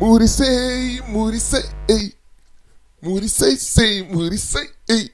muri sei muri sei muri sei sei muri sei ei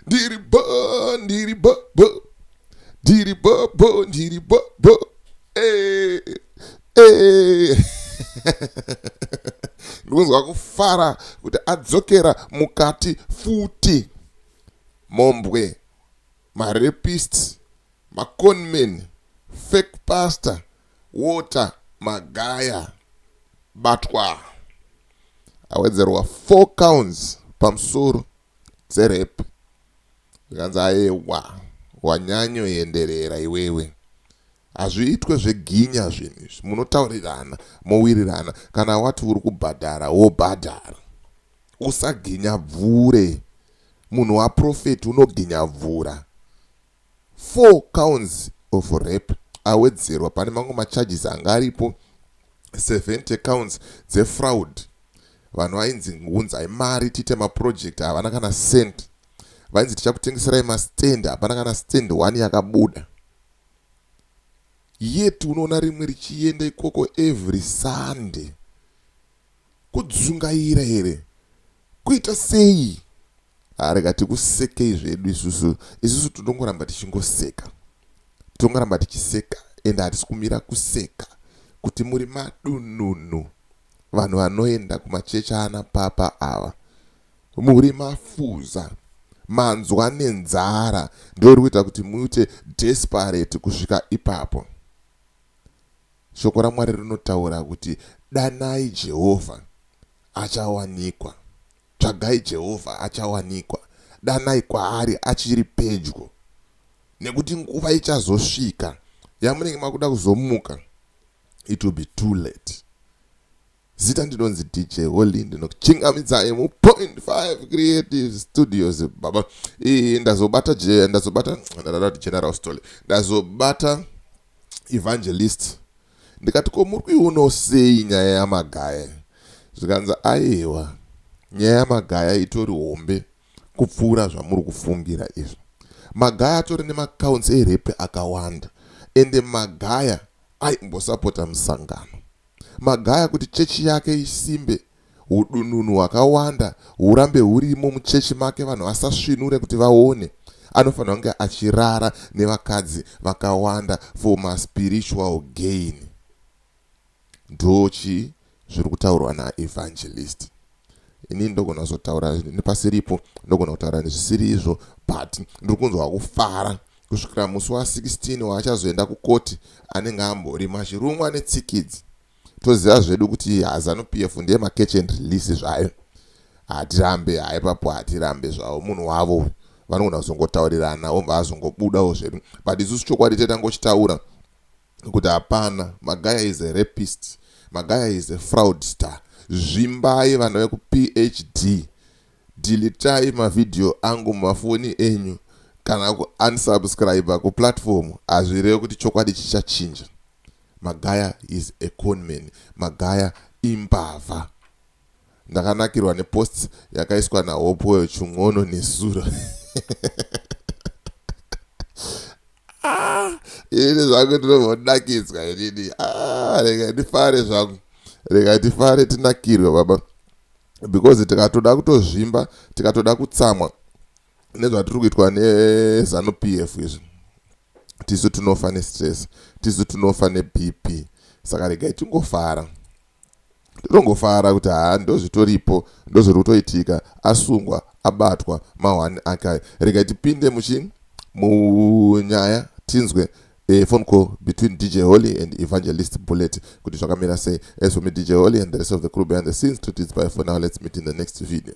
ndiri bo ndiri bo bo ndiri bo bo ndiri bo bo eh eh ndikunzwa kufara kuti adzokera mukati futi mombwe marepist Ma conman, fake pastor, water, magaya, batwaa. Awedzerwa four counts pamusoro dze rape zvikanzi aewa wanyanyoenderera iwewe. Hazviitwe zveginya zvinhu izvi munotaurirana mowirirana kana wati uri kubhadhara wobhadhara. Usaginya bvure. Munhu wa prophet unoginya bvura. Four counts of rape awedzerwa pane mamwe macharges anga aripo, 70 counts dzefraud, vanhu vainzi unzai mari tiite maproject havana kana cent, vainzi tichakutengeserai mastand hapana kana stand one yakabuda yet unoona rimwe richienda ikoko every Sunday. Kudzungaira here? Kuita sei? Haa rega tikusekei zvedu isusu, isusu tinongoramba tichingoseka. Tinongoramba tichiseka ende hatisi kumira kuseka kuti muri madununu, vanhu vanoenda kumachechi aana papa ava. Muri mafuza, manzwa nenzara ndoiri kuita kuti muite desperate kusvika ipapo. Shoko raMwari rinotaura kuti danai Jehovha, achawanikwa, tsvagai Jehovha, achawanikwa, danai kwaari achiri pedyo. Nekuti nguva ichazosvika yamunenge makuda kuzomuka, it will be too late. Zita ndinonzi DJ Holy ndinokuchingamidzai mu Point 5 Creative Studios baba. Iyi ndazobata je ndazobata ndarati General Stole. Ndazobata Evangelist. Ndikati ko muri kuionawo sei nyaya yamagaya? Zvikanzi aiwa nyaya yamagaya itori hombe kupfuura zvamuri kufungira izvo. Magaya atori nemacounts erepe akawanda ende magaya aimbosapota musangano. Magaya kuti chechi yake isimbe, hudununu hwakawanda hurambe hurimo muchechi make vanhu vasasvinure kuti vaone. Anofanirwa kunge achirara nevakadzi vakawanda for ma spiritual gain. Ndochii zviri kutaurwa na Evangelist. inini ndogona kuzotaura nepasiripo ndogona kutaura nezvisiri izvo but ndiri kunzwa kufara kusvikira musi wa16 waachazoenda kukoti anenge ambori mashirumwa netsikidzi toziva zvedu kuti hazanu p f ndiye macatch and release zvayo hatirambe haipapo hatirambe zvavo munhu wavo uyu vanogona kuzongotaurirana obva azongobudawo zvedu but isusu chokwadi taitangochitaura nokuti hapana magaya is a rapist magaya is a fraud star zvimbai vana vekuphd dilitai mavhidhiyo angu mumafoni enyu kana kuunsubscribe kuplatform hazvireve kuti chokwadi chichachinja magaya is a conman magaya imbavha ndakanakirwa neposts yakaiswa nahopoyo chun'ono nesura ah, ini zvangu ndinovodakidzwa inini ah, rega ndifare zvangu rega ndifare tinakirwe baba because tikatoda kutozvimba tikatoda kutsamwa nezvatiri kuitwa nezanu p f izvi tisu tinofa nestress tisu tinofa nebp saka regai tingofara Ndinongofara kuti haa ndozvitoripo ndozviri kutoitika asungwa abatwa ma one ake ayo. Regai tipinde muchi munyaya tinzwe a phone call between DJ Holly and Evangelist Bullet kuti zvakamira sei. As for me DJ Holly and the rest of the crew behind the scenes to tid's bye for now let's meet in the next video.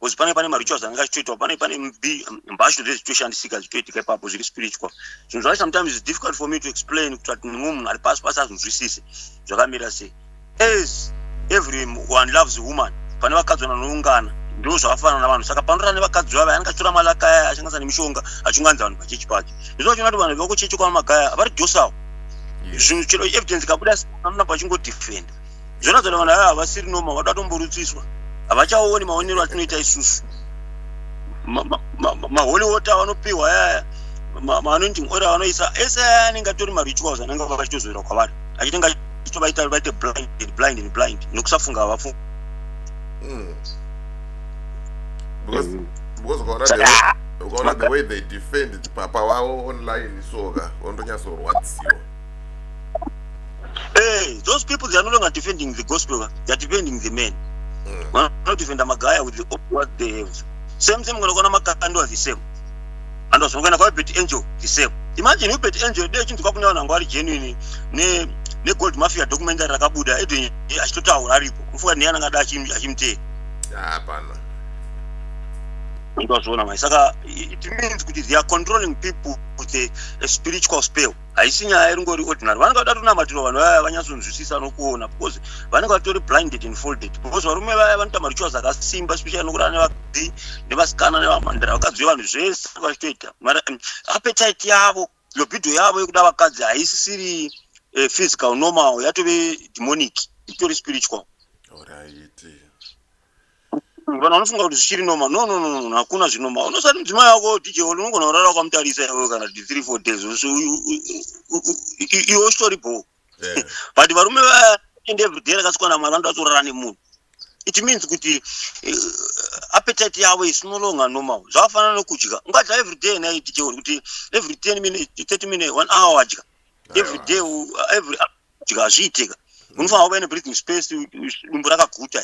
because pane pane marituals anenge achitoitwa pane pane mbashu zve zvichitoshandisika zvichitoitika ipapo zviri spiritual zvinhu zvacho sometimes is difficult for me to explain kuti ati mumwe munhu ari pasi pasi azvinzwisise zvakamira sei as every one loves a woman pane vakadzi vanoungana ndo zvakafanana navanhu saka panorara nevakadzi vavo anenge achitora malaka aya ashandisa nemishonga achunganidza vanhu pachechi pacho izvo vachona kuti vanhu vekuchechi kwamamakaya vari dosawo zvinhu chero evidence kabuda amuna pachingodiffenda Jonathan vanhu ava havasiri noma vanoda kutomborutsiswa havachaoni maonero atinoita isusu maholi water avanopiwa ayaya maanointing oil avanoisa ese aya anenge atori marituals anenge vachitozoera kwavari achitenge achitovaita vaite blind and blind and blind nekusafunga havafunga hmm. because mm. because ukaona the way, ukaona the way they defend papa wavo online soka ondonyatsorwadziwa Hey, eh, those people they are no longer defending the gospel, they are defending the men. Mm. Well, not defend Magaya with the, what they have. Same same when Ogona Makando are the same. And also when I bet angel the same. Imagine you bet angel, they chintu kakuna wana ngwari genuine ne ne gold mafia documentary rakabuda edu eh, achitotaura aripo. Kufuka ne yana ngada achim achimte. Hapana. Ah, Ndozvona mai saka it means kuti they are controlling people with a, a spiritual spell. haisi nyaya iringori ordinary vanenge vada tonamatiro vanhu vaya vanyatsonzwisisa nokuona because vanenge vatori blinded and folded because varume vaya vanoita marichuwa zvakasimba especially nokuti ane vakadzi nevasikana nevamhandara vakadzi vevanhu zvese vachitoita mara um, appetite yavo lobido yavo yekuda vakadzi haisisiri eh, physical normal yatove demonic itori spiritual vanhu vanofunga kuti zvichiri noma no no no hakuna zvinoma unosati mudzimai wako dj oli unogona kurara wakamutarisa iwe kana kuti three four days iwe uchitori bho but varume vaende everyday rakasikwana mwari vanoda vatorara nemunhu it means kuti eh, appetite yavo is no longer normal zvakafanana nokudya ungadya everyday naye dj oli kuti every ten minute thirty minute one hour wadya everyday every kuti hazviiteka unofanira kuva nebreathing space dumbu rakaguta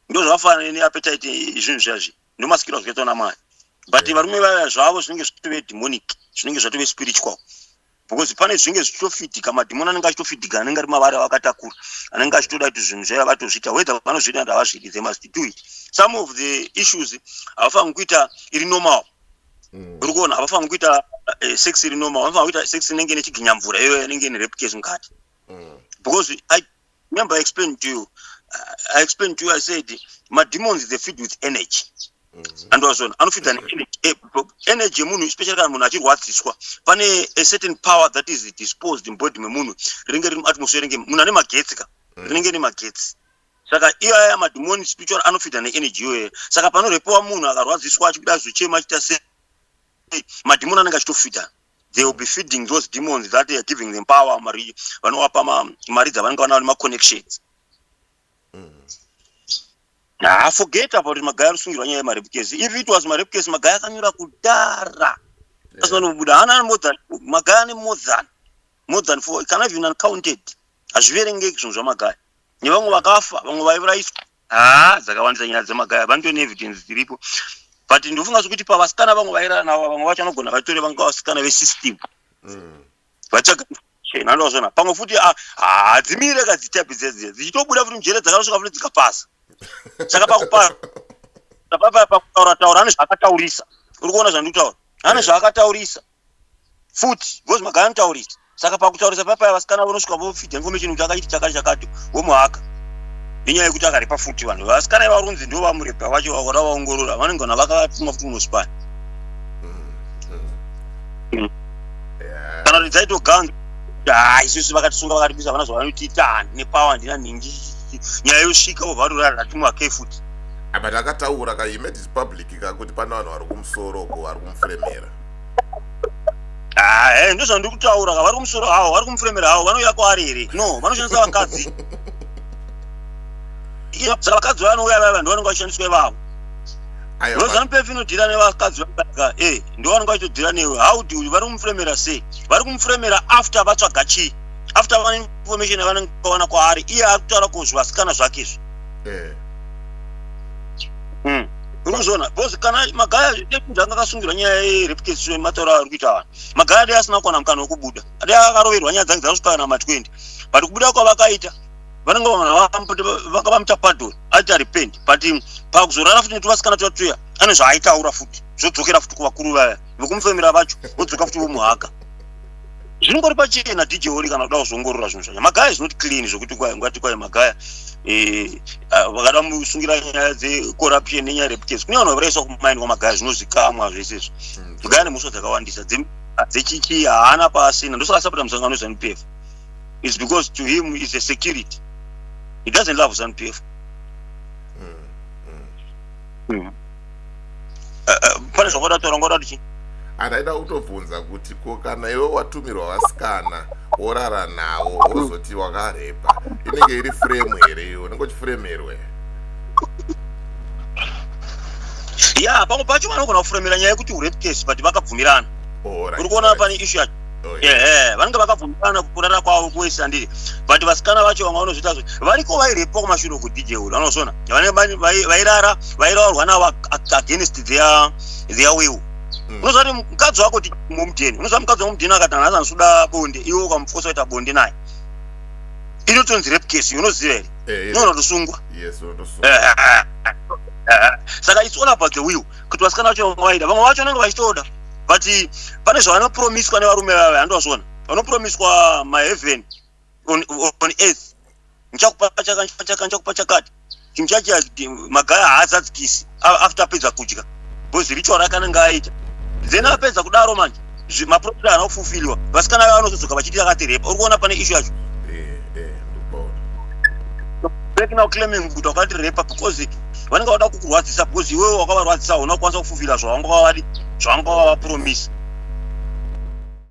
ndozvakafanana neappetite zvinhu zviyazvi ndomasikiro azvakaitwa namai but varume vaya zvavo zvinenge zvatove demonic zvinenge zvatove spiritual because pane zvinenge zvichitofidhika madhimoni anenge achitofidhika anenge ari mavari avakatakura anenge achitoda kuti zvinhu zvaiva vatozviita whether vanozviita kuti havazviiti they must do it some of the issues havafaniri kuita iri normal mm. uri kuona havafaniri kuita eh, sex iri normal vanofanira kuita sex inenge ine chiginyamvura iyo inenge ine repcase mukati mm. because i remember i explained to you i explained to you i said mademons they feed with energy mm-hmm. and wazona anofidha eh, energy yemunhu especially kana munhu achirwadziswa pane a certain power that is disposed in body memunhu rinenge riri muatmosphere renge munhu ane magetsi ka mm. rinenge rine magetsi Saka iyo aya madhimoni spiritual anofidha neenergy iyoyo. Saka panorepowa munhu akarwadziswa achikuda achizochema achiita sei madhimoni anenge achitofidha they will be feeding those demons that they are giving them power mari vanowapa mari dzavanenge vanawo nemaconnections haa forget about magaya rusungirwa nyaya yemarepukesi if it was marepukesi magaya akanyura kudara asinobuda haana ane more than magaya ane more than more than four kana even uncounted hazviverengeki zvinhu zvamagaya nevamwe vakafa vamwe vaivuraiswa haa dzakawandisa nyaya dzemagaya vanoto neevidence dziripo but ndofunga zvekuti pavasikana vamwe vairara navo vamwe vacho vanogona vatore vanga vasikana vesystem mm. vatsvaga chena ndozvona pamwe futi ah, hadzimire ka dzitapi dzedziya dzichitobuda futi mujere dzakasvika futi dzikapasa saka pakupasa pakutaura taura ane zvaakataurisa uri kuona zvandikutaura ane zvaakataurisa futi because magara anotaurisa saka pakutaurisa papaya vasikana vonosvika vofidha information kuti akachiti chakati chakati vomuhaka nenyaya yekuti akaripa futi vanhu vasikana ivarunzi ndo vamurepa vacho vakora vaongorora vanenge vana vakavatuma futi munosipani kana kuti dzaitoganga haa isusu vakatisunga vakatibisa vana zvavanotiita handine pawa handina nhingi nyaya yosvika vovarurara tatimuhakei futi but akataura ka he made his public ka kuti pane vanhu vari kumusoro uko vari kumufremera Ah, eh, ndizvo zvandiri kutaura ka vari kumusoro hawo vari kumufuremera hawo vanouya kwaari here no vanoshandisa vakadzi Iya, saka vakadzi vaya vanouya vaya vanhu vanenge vachishandiswa ivavo Ayo, ma- rozanupf inodhira nevakadzi vaaka e ndo vanenge vachitodhira newe how do you- vari kumufuremera sei vari kumufuremera after vatsvaga chii after vane information yavanenge vawana kwaari iye ari kutaura ko zvivasikana zvake izvi eh. mm. unozviona because kana magaya deputy anga akasungirwa nyaya yerepetition matauro aari kuita vanhu magaya dai asina kuwana mukana wekubuda dai akaroverwa nyaya dzange dzasvika kana ma20 but kubuda kwavakaita vanenge vanga vamuita pardon aita repent but pakuzorara futi netuvasikana tuya tuya ane zvaaitaura futi zvodzokera futi kuvakuru vaya vekumufemera vacho vodzoka futi vomuhaka zvinongori pachena dj oli kana kuda kuzongorora zvinhu zvacho magaya is not clean zvekuti kwai ngati kwai magaya eh, ah, vakada musungira nyaya dzecorruption nenyaya reputesi kune vanhu vaviraiswa kumaini kwamagaya zvinozikamwa zvese izvo hmm. magaya nemhosva dzakawandisa dzechichi haana paasina ndosaka asapota musangano wezanup f is because to him is a security he doesn't love zanup f mm. uh, pane zvakoda kutaura ngoda kuti andaida kutobvunza kuti ko kana iwe watumirwa vasikana worara nawo wozoti wakarepa inenge iri frame here iyo unenge uchifremerwe ya pamwe pacho vanogona kufremera nyaya yekuti urepcase but vakabvumirana uri kuona pane ishu yacho Oh, ehe vanenge vakabvumirana kurara kwavo kuwese andiri but vasikana vacho vanga vanozviita zve variko vairepa kumashure uku dj uri vanozviona vanenge vairara vairaurwa navo against their their will mm. unoziva kuti mukadzi wako mumudheni unoziva mukadzi wamudheni akati anhu asanosuda bonde iwe ukamufosa kuita bonde naye inotonzi rape case unoziva here eh, eh. unoona kutosungwa saka it's all about the will kuti vasikana vacho vamwe vaida vamwe vacho vanenge vachitoda but pane zvavanopromiswa nevarume vave handivazvona vanopromiswa maheaven on, on earth ndichakupa chaka ndichakupa chaka chakati chinhu chacho magaya haazadzikisi after apedza kudya because ritual rakanenge aita then apedza kudaro manje maprofit haana kufulfilwa vasikana vavo vanozodzoka vachiti yakatireba uri kuona pane ishu yacho back now claiming kuti wakatirepa because vanenge vada kukurwadzisa because iwewe wakavarwadzisa hauna kukwanisa kufulfila zvavanga wavadi zvavanga wavapromisa